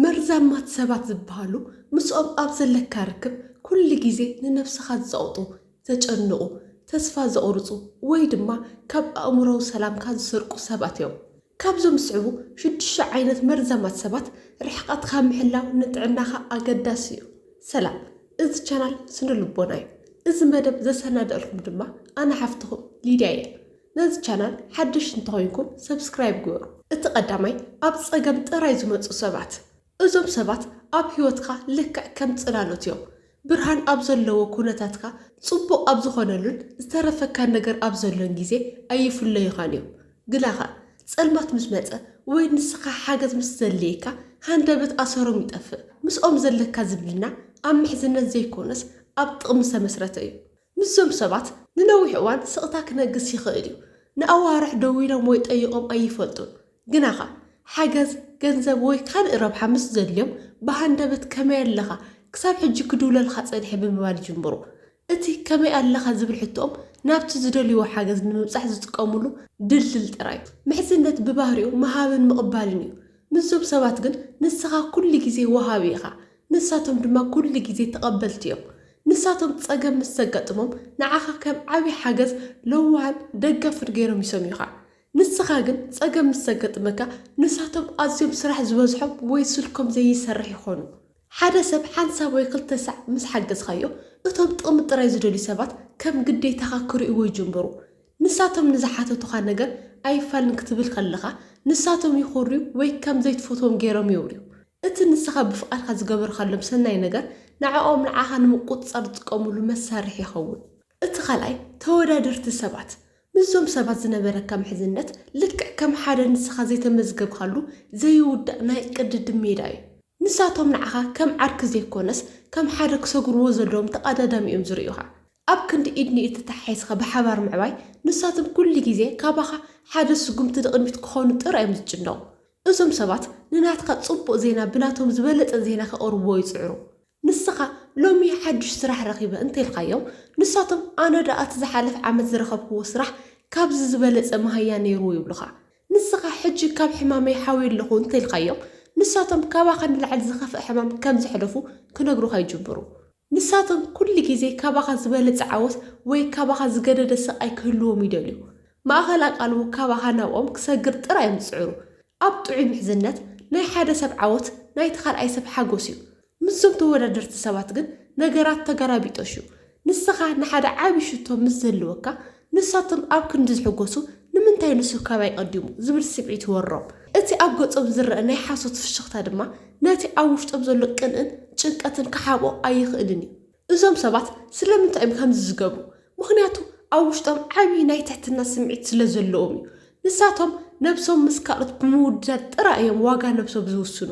መርዛማት ሰባት ዝበሃሉ ምስኦም ኣብ ዘለካ ርክብ ኩሉ ግዜ ንነብስኻ ዝጸቕጡ፣ ዘጨንቑ፣ ተስፋ ዘቑርጹ ወይ ድማ ካብ ኣእምሮዊ ሰላምካ ዝሰርቁ ሰባት እዮም። ካብዞም ዝስዕቡ ሽዱሽተ ዓይነት መርዛማት ሰባት ርሕቐትካ ምሕላው ንጥዕናኻ ኣገዳሲ እዩ። ሰላም እዚ ቻናል ስነ ልቦና እዩ። እዚ መደብ ዘሰናደእልኩም ድማ ኣነ ሓፍትኹም ሊድያ እየ። ነዚ ቻናል ሓድሽ እንተኾይንኩም ሰብስክራይብ ግበሩ። እቲ ቀዳማይ ኣብ ጸገም ጥራይ ዝመጹ ሰባት። እዞም ሰባት ኣብ ህይወትካ ልክዕ ከም ጽላሎት እዮም። ብርሃን ኣብ ዘለዎ ኩነታትካ ጽቡቕ ኣብ ዝኾነሉን ዝተረፈካን ነገር ኣብ ዘሎን ግዜ ኣይፍለዩኻን እዮም። ግናኸ ጸልማት ምስ መጸ ወይ ንስኻ ሓገዝ ምስ ዘድልየካ ሃንደበት ኣሰሮም ይጠፍእ። ምስኦም ዘለካ ዝምድና ኣብ ምሕዝነት ዘይኮነስ ኣብ ጥቕሚ ዝተመስረተ እዩ። ምስዞም ሰባት ንነዊሕ እዋን ስቕታ ክነግስ ይኽእል እዩ። ንኣዋርሕ ደዊሎም ወይ ጠይቖም ኣይፈልጡን። ግናኸ፣ ሓገዝ፣ ገንዘብ ወይ ካልእ ረብሓ ምስ ዘድልዮም ብሃንደበት ከመይ ኣለኻ? ክሳብ ሕጂ ክድውለልኻ ጸኒሐ ብምባል ይጅምሩ። እቲ ከመይ ኣለኻ ዝብል ሕቶኦም ናብቲ ዝደልይዎ ሓገዝ ንምብጻሕ ዝጥቀሙሉ ድልድል ጥራይ እዩ። ምሕዝነት ብባህሪኡ ምሃብን ምቕባልን እዩ። ምስዞም ሰባት ግን ንስኻ ኩሉ ግዜ ወሃቢ ኢኻ። ንሳቶም ድማ ኩሉ ግዜ ተቐበልቲ እዮም። ንሳቶም ጸገም ምስ ዘጋጥሞም ንዓኻ ከም ዓቢ ሓገዝ፣ ለዋህን ደጋፍን ገይሮም ይሰምዩኻ። ንስኻ ግን ጸገም ምስ ዘገጥመካ ንሳቶም ኣዝዮም ስራሕ ዝበዝሖም ወይ ስልኮም ዘይሰርሕ ይኾኑ። ሓደ ሰብ ሓንሳብ ወይ ክልተ ሳዕ ምስ ሓገዝካዮ እቶም ጥቕሚ ጥራይ ዝደልዩ ሰባት ከም ግዴታኻ ክርእይዎ ይጅምሩ። ንሳቶም ንዝሓተቱኻ ነገር ኣይፋልን ክትብል ከለኻ፣ ንሳቶም ይኹርዩ ወይ ከም ዘይትፈትዎም ገይሮም የውርዩ። እቲ ንስኻ ብፍቓድካ ዝገበርካሎም ሰናይ ነገር ንዕኦም ንዓኻ ንምቁጽጻር ዝጥቀሙሉ መሳርሒ ይኸውን። እቲ ካልኣይ፣ ተወዳደርቲ ሰባት። ምስዞም ሰባት ዝነበረካ ምሕዝነት ልክዕ ከም ሓደ ንስኻ ዘይተመዝገብካሉ ዘይውዳእ ናይ ቅድድም ሜዳ እዩ። ንሳቶም ንዓኻ ከም ዓርኪ ዘይኮነስ ከም ሓደ ክሰግርዎ ዘለዎም ተቐዳዳሚ እዮም ዝርእዩኻ። ኣብ ክንዲ ኢድ ንኢድ ተተሓሒዝካ ብሓባር ምዕባይ፣ ንሳቶም ኩሉ ግዜ ካባኻ ሓደ ስጉምቲ ንቕድሚት ክኾኑ ጥራይ እዮም ዝጭነቑ። እዞም ሰባት ንናትካ ጽቡቕ ዜና ብናቶም ዝበለጸ ዜና ከቕርብዎ ይጽዕሩ። ንስኻ ሎሚ ሓድሽ ስራሕ ረኺበ እንተኢልካዮም፣ ንሳቶም ኣነ ደኣ እቲ ዝሓለፈ ዓመት ዝረኸብክዎ ስራሕ ካብዚ ዝበለጸ መሃያ ነይሩ ይብሉኻ። ንስኻ ሕጂ ካብ ሕማመይ ሓውየ ኣለኹ እንተኢልካዮም፣ ንሳቶም ካባኻ ንላዕሊ ዝኸፍኣ ሕማም ከም ዘሕለፉ ክነግሩኻ ይጅምሩ። ንሳቶም ኩሉ ግዜ ካባኻ ዝበለጸ ዓወት ወይ ካባኻ ዝገደደ ስቓይ ክህልዎም ይደልዩ። ማእከል ኣቓልቦ ካባኻ ናብኦም ክሰግር ጥራይ እዮም ዝጽዕሩ። ኣብ ጥዑይ ምሕዝነት፣ ናይ ሓደ ሰብ ዓወት ናይቲ ካልኣይ ሰብ ሓጎስ እዩ። ምስዞም ተወዳደርቲ ሰባት ግን ነገራት ተገላቢጦሽ እዩ። ንስኻ ንሓደ ዓቢ ሽቶ ምስ ዝህልወካ፣ ንሳቶም ኣብ ክንዲ ዝሕጎሱ፣ ንምንታይ ንሱ ካባይ ቀዲሙ? ዝብል ስምዒት ይወሮም። እቲ ኣብ ገጾም ዝረኣ ናይ ሓሶት ፍሽኽታ ድማ፣ ነቲ ኣብ ውሽጦም ዘሎ ቅንእን ጭንቀትን ክሓብኦ ኣይኽእልን እዩ። እዞም ሰባት ስለምንታይ እዮም ከምዚ ዝገብሩ? ምኽንያቱ ኣብ ውሽጦም ዓቢ ናይ ትሕትና ስምዒት ስለ ዘለዎም እዩ። ንሳቶም ነብሶም ምስ ካልኦት ብምውድዳር ጥራይ እዮም ዋጋ ነብሶም ዝውስኑ።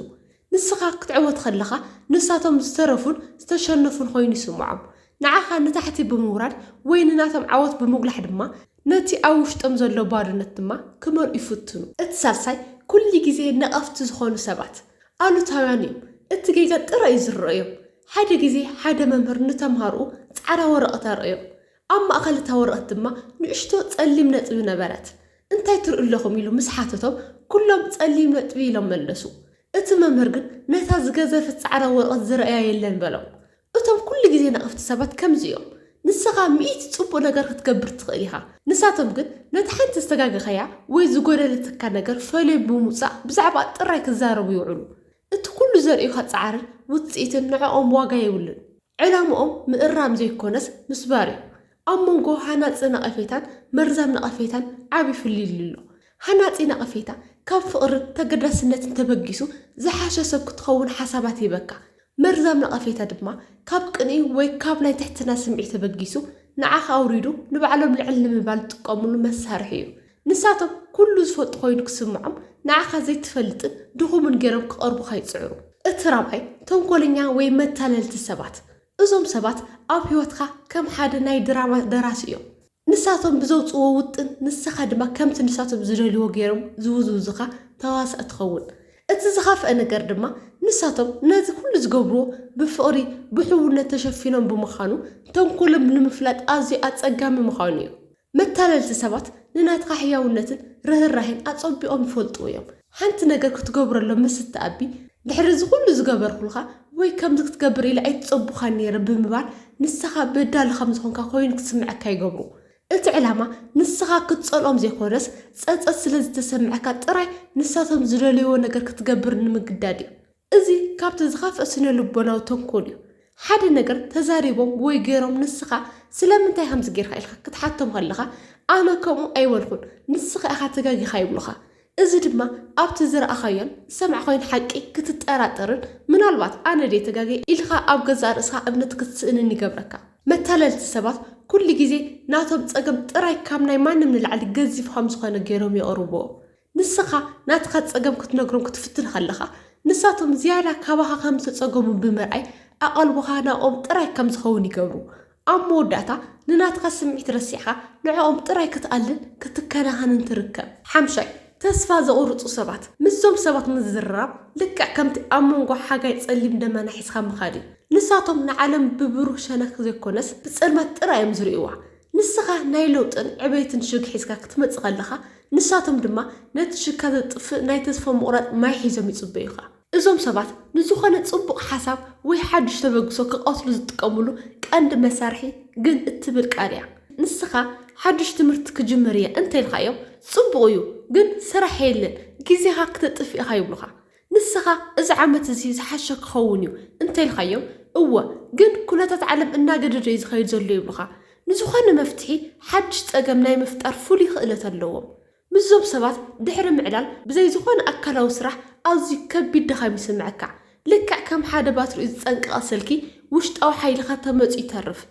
ንስኻ ክትዕወት ከለኻ፣ ንሳቶም ዝተረፉን ዝተሸነፉን ኮይኑ ይስምዖም። ንዓኻ ንታሕቲ ብምውራድ ወይ ንናቶም ዓወት ብምጉላሕ ድማ ነቲ ኣብ ውሽጦም ዘሎ ባዶነት ድማ ክመልኡ ይፍትኑ። እቲ ሳልሳይ ኩሉ ግዜ ነቐፍቲ ዝኾኑ ሰባት ኣሉታውያን እዮም። እቲ ጌጋ ጥራይ እዩ ዝረኦዮም። ሓደ ግዜ ሓደ መምህር ንተምሃሮኡ ጻዕዳ ወረቐት ኣርኣዮም። ኣብ ማእከል እታ ወረቐት ድማ ንእሽቶ ጸሊም ነጥቢ ነበረት። እንታይ ትርእዩ ኣለኹም ኢሉ ምስ ሓተቶም ኩሎም ጸሊም ነጥቢ ኢሎም መለሱ። እቲ መምህር ግን ነታ ዝገዘፈት ጻዕዳ ወረቐት ዝረኣያ የለን በሎም። እቶም ኩሉ ግዜ ነቐፍቲ ሰባት ከምዚ እዮም። ንሰኻ ሚእቲ ጽቡቕ ነገር ክትገብር ትኽእል ኢኻ፣ ንሳቶም ግን ነታ ሓንቲ ዝተጋገኻያ ወይ ዝጎደለትካ ነገር ፈልዮም ብምውጻእ ብዛዕባኣ ጥራይ ክዛረቡ ይውዕሉ። እቲ ኩሉ ዘርእዩኻ ጻዕርን ውጽኢትን ንዕኦም ዋጋ የብሉን። ዕላምኦም ምእራም ዘይኮነስ ምስባር እዩ። ኣብ መንጎ ሃናጺ ነቐፌታን መርዛም ነቐፌታን ዓቢ ፍልልይ ኣሎ። ሃናጺ ነቐፌታ፣ ካብ ፍቕርን ተገዳስነትን ተበጊሱ ዝሓሸ ሰብ ክትኸውን ሓሳባት ይህበካ። መርዛም ነቐፌታ ድማ፣ ካብ ቅንኢ ወይ ካብ ናይ ትሕትና ስምዒት ተበጊሱ ንዓኻ ኣውሪዱ ንባዕሎም ልዕል ንምባል ዝጥቀምሉ መሳርሒ እዩ። ንሳቶም ኩሉ ዝፈልጡ ኮይኑ ክስምዖም፣ ንዓኻ ዘይትፈልጥን ድኹምን ገይሮም ክቐርቡኻ ይጽዕሩ። እቲ ራብዓይ፣ ተንኮለኛ ወይ መታለልቲ ሰባት። እዞም ሰባት ኣብ ህይወትካ ከም ሓደ ናይ ድራማ ደራሲ እዮም። ንሳቶም ብዘውጽዎ ውጥን ንሰኻ ድማ ከምቲ ንሳቶም ዝደልይዎ ገይሮም ዝውዝውዙኻ ተዋሳእ ትኸውን። እቲ ዝኸፍኣ ነገር ድማ ንሳቶም ነዚ ኩሉ ዝገብርዎ ብፍቕሪ ብሕውነት ተሸፊኖም ብምኻኑ ተንኮሎም ንምፍላጥ ኣዝዩ ኣጸጋሚ ምኻኑ እዩ። መታለልቲ ሰባት ንናትካ ሕያውነትን ርህራሄን ኣጸቢቖም ይፈልጥዎ እዮም። ሓንቲ ነገር ክትገብረሎም ምስ እትኣቢ፣ ድሕሪ እዚ ዅሉ ዝገበርኩልካ ወይ ከምዚ ክትገብር ኢለ ኣይተጸቡኻን ነይረ ብምባል ንሰኻ በዳሊ ከም ዝዀንካ ኰይኑ ክስምዐካ ይገብሩ። እቲ ዕላማ ንሰኻ ክትጸልኦም ዘይኰነስ፣ ጸጸት ስለ ዝተሰምዐካ ጥራይ ንሳቶም ዝደለይዎ ነገር ክትገብር ንምግዳድ እዩ። እዚ ካብቲ ዝኸፍእ ስነልቦናዊ ተንኮል እዩ። ሓደ ነገር ተዛሪቦም ወይ ገይሮም ንስኻ ስለምንታይ ከምዚ ገይርካ ኢልካ ክትሓቶም ከለኻ ኣነ ከምኡ ኣይበልኩን ንስኻ ኢኻ ተጋጊኻ ይብሉኻ። እዚ ድማ ኣብቲ ዝረኣኻዮን ዝሰማዕካዮን ሓቂ ክትጠራጠርን ምናልባት ኣነ ድየ ተጋግየ ኢልካ ኣብ ገዛእ ርእስኻ እምነት ክትስእንን ይገብረካ። መታለልቲ ሰባት ኩሉ ግዜ ናቶም ጸገም ጥራይ ካብ ናይ ማንም ንላዕሊ ገዚፍ ከም ዝኾነ ገይሮም የቕርብዎ። ንስኻ ናትካ ጸገም ክትነግሮም ክትፍትን ከለኻ፣ ንሳቶም ዝያዳ ካባኻ ከም ዝተጸገሙ ብምርኣይ ኣቓልቦኻ ናብኦም ጥራይ ከም ዝኸውን ይገብሩ። ኣብ መወዳእታ፣ ንናትካ ስምዒት ረሲዕካ ንዕኦም ጥራይ ክትኣልን ክትከናኸንን ትርከብ። ሓምሻይ፣ ተስፋ ዘቝርጹ ሰባት። ምስዞም ሰባት ምዝርራብ ልክዕ ከምቲ ኣብ መንጎ ሓጋይ ጸሊም ደመና ሒዝካ ምኻድ እዩ። ንሳቶም ንዓለም ብብሩህ ሸነኽ ዘይኰነስ ብጸልማት ጥራይ እዮም ዝርእይዋ። ንስኻ ናይ ለውጥን ዕቤትን ሽግ ሒዝካ ክትመጽእ ከለኻ፣ ንሳቶም ድማ ነቲ ሽካ ዘጥፍእ ናይ ተስፋ ምቑራጽ ማይ ሒዞም ይጽበዩኻ። እዞም ሰባት ንዝኾነ ጽቡቕ ሓሳብ ወይ ሓድሽ ተበግሶ ክቐትሉ ዝጥቀምሉ ቀንዲ መሳርሒ ግን እትብል ቃል እያ። ንስኻ ሓድሽ ትምህርቲ ክጅምር እየ እንተ ኢልካዮም፣ ጽቡቕ እዩ፣ ግን ስራሕ የለን፣ ግዜኻ ክተጥፍእ ኢኻ ይብሉኻ። ንስኻ እዚ ዓመት እዚ ዝሓሸ ክኸውን እዩ እንተ ኢልካዮም፣ እወ ግን ኩነታት ዓለም እናገደዶ እዩ ዝኸይድ ዘሎ ይብሉኻ። ንዝኾነ መፍትሒ ሓድሽ ጸገም ናይ ምፍጣር ፍሉይ ክእለት ኣለዎም። ምስዞም ሰባት ድሕሪ ምዕላል ብዘይ ዝኾነ ኣካላዊ ስራሕ ኣዝዩ ከቢድ ድኻም ይስምዐካ። ልክዕ ከም ሓደ ባትሪኡ ዝጸንቀቐ ስልኪ ውሽጣዊ ሓይልኻ ተመጽዩ ይተርፍ።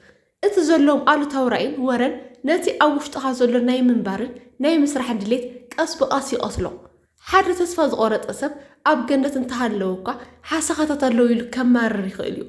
እቲ ዘለዎም ኣሉታዊ ራኢን ወረን ነቲ ኣብ ውሽጥኻ ዘሎ ናይ ምንባርን ናይ ምስራሕን ድሌት ቀስ ብቐስ ይቐትሎ። ሓደ ተስፋ ዝቖረጸ ሰብ ኣብ ገነት እንተሃለወ'ኳ ሓሰኻታት ኣለዉ ኢሉ ከማርር ይኽእል'ዩ።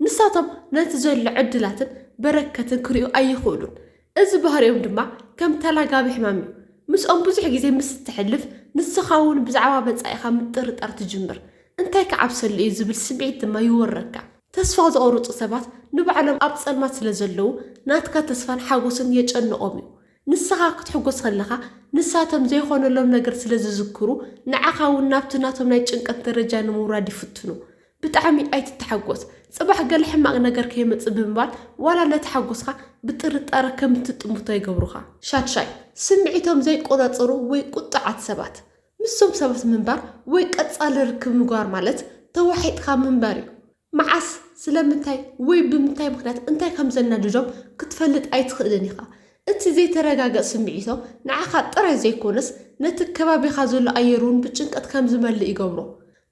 ንሳቶም ነቲ ዘሎ ዕድላትን በረከትን ክርእዩ ኣይኽእሉን። እዚ ባህሪኦም ድማ ከም ተላጋቢ ሕማም'ዩ። ምስኦም ብዙሕ ግዜ ምስ እተሕልፍ ንስኻ'ውን ብዛዕባ መጻኢኻ ምጥርጣር ትጅምር። እንታይ ክዓብሰሉ'ዩ ዝብል ስምዒት ድማ ይወረካ። ተስፋ ዝቖርጹ ሰባት ንባዕሎም ኣብ ጸልማት ስለ ዘለዉ ናትካ ተስፋን ሓጎስን የጨንቖም እዩ። ንስኻ ክትሕጎስ ከለኻ ንሳቶም ዘይኾነሎም ነገር ስለ ዝዝክሩ ንዓኻ እውን ናብቲ ናቶም ናይ ጭንቀት ደረጃ ንምውራድ ይፍትኑ። ብጣዕሚ ኣይትተሓጎስ። ጽባሕ ገለ ሕማቕ ነገር ከይመጽእ ብምባል ዋላ ነቲ ሓጎስካ ብጥርጣረ ከም እትጥምቶ ይገብሩኻ። ሻድሻይ፣ ስምዒቶም ዘይቆጻጸሩ ወይ ቁጡዓት ሰባት። ምስዞም ሰባት ምንባር ወይ ቀጻሊ ርክብ ምግባር ማለት ተዋሒጥካ ምንባር እዩ። መዓስ፣ ስለምንታይ ወይ ብምንታይ ምኽንያት እንታይ ከም ዘናድዶም ክትፈልጥ ኣይትኽእልን ኢኻ። እቲ ዘይተረጋገ ስምዒቶም ንዓኻ ጥራይ ዘይኰነስ ነቲ ከባቢኻ ዘሎ ኣየር'ውን ብጭንቀት ከም ዝመልእ ይገብሮ።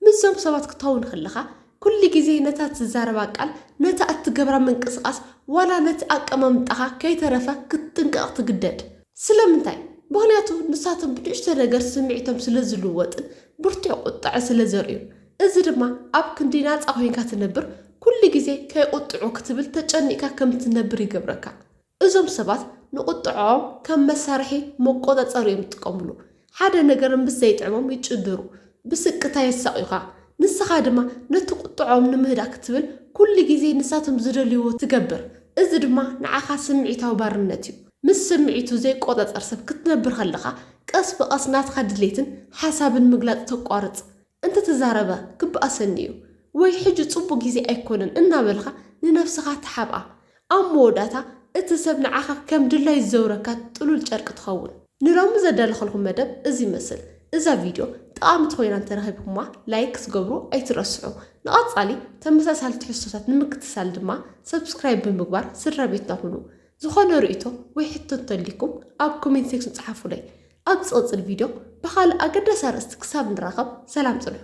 ምስዞም ሰባት ክትኸውን ከለኻ፣ ኩሉ ግዜ ነታ እትዛረባ ቃል፣ ነታ እትገብራ ምንቅስቓስ፣ ዋላ ነቲ ኣቀማምጣኻ ከይተረፈ ክትጥንቀቕ ትግደድ። ስለምንታይ? ምኽንያቱ ንሳቶም ብንእሽቶ ነገር ስምዒቶም ስለ ዝልወጥን ብርቱዕ ቍጥዐ ስለ ዘርእዩን። እዚ ድማ ኣብ ክንዲ ናጻ ኰይንካ ትነብር፣ ኩሉ ግዜ ከይቝጥዑ ክትብል ተጨኒቕካ ከም እትነብር ይገብረካ። እዞም ሰባት ንቑጥዐኦም ከም መሳርሒ መቆጻጸሪ እዮም ዝጥቀምሉ። ሓደ ነገር ምስ ዘይጥዕሞም ይጭድሩ፣ ብስቅታ የሳቕዩኻ፣ ንስኻ ድማ ነቲ ቁጥዐኦም ንምህዳእ ክትብል ኩሉ ግዜ ንሳቶም ዝደልይዎ ትገብር። እዚ ድማ ንዓኻ ስምዒታዊ ባርነት እዩ። ምስ ስምዒቱ ዘይቆጻጸር ሰብ ክትነብር ከለኻ ቀስ ብቐስ ናትካ ድሌትን ሓሳብን ምግላጽ ተቋርጽ። እንተተዛረበ ክበኣሰኒ እዩ ወይ ሕጂ ጽቡቕ ግዜ ኣይኮነን እናበልካ ንነብስኻ ትሓብኣ። ኣብ መወዳእታ እቲ ሰብ ንዓኻ ከም ድላዩ ዝዘውረካ ጥሉል ጨርቂ ትኸውን። ንሎሚ ዘዳለኸልኩም መደብ እዚ ይመስል። እዛ ቪድዮ ጠቓሚት ኮይና እንተረኺብኩማ ላይክ ክትገብሩ ኣይትረስዑ። ንቐጻሊ ተመሳሳሊ ትሕዝቶታት ንምክትታል ድማ ሰብስክራይብ ብምግባር ስድራቤትና ኩኑ። ዝኾነ ርእይቶ ወይ ሕቶ እንተልዩኩም ኣብ ኮሜንት ሴክሽን ጽሓፉለይ። ኣብ ዝቕጽል ቪድዮ ብኻልእ ኣገዳሲ ኣርእስቲ ክሳብ ንራኸብ ሰላም ጽንሑ።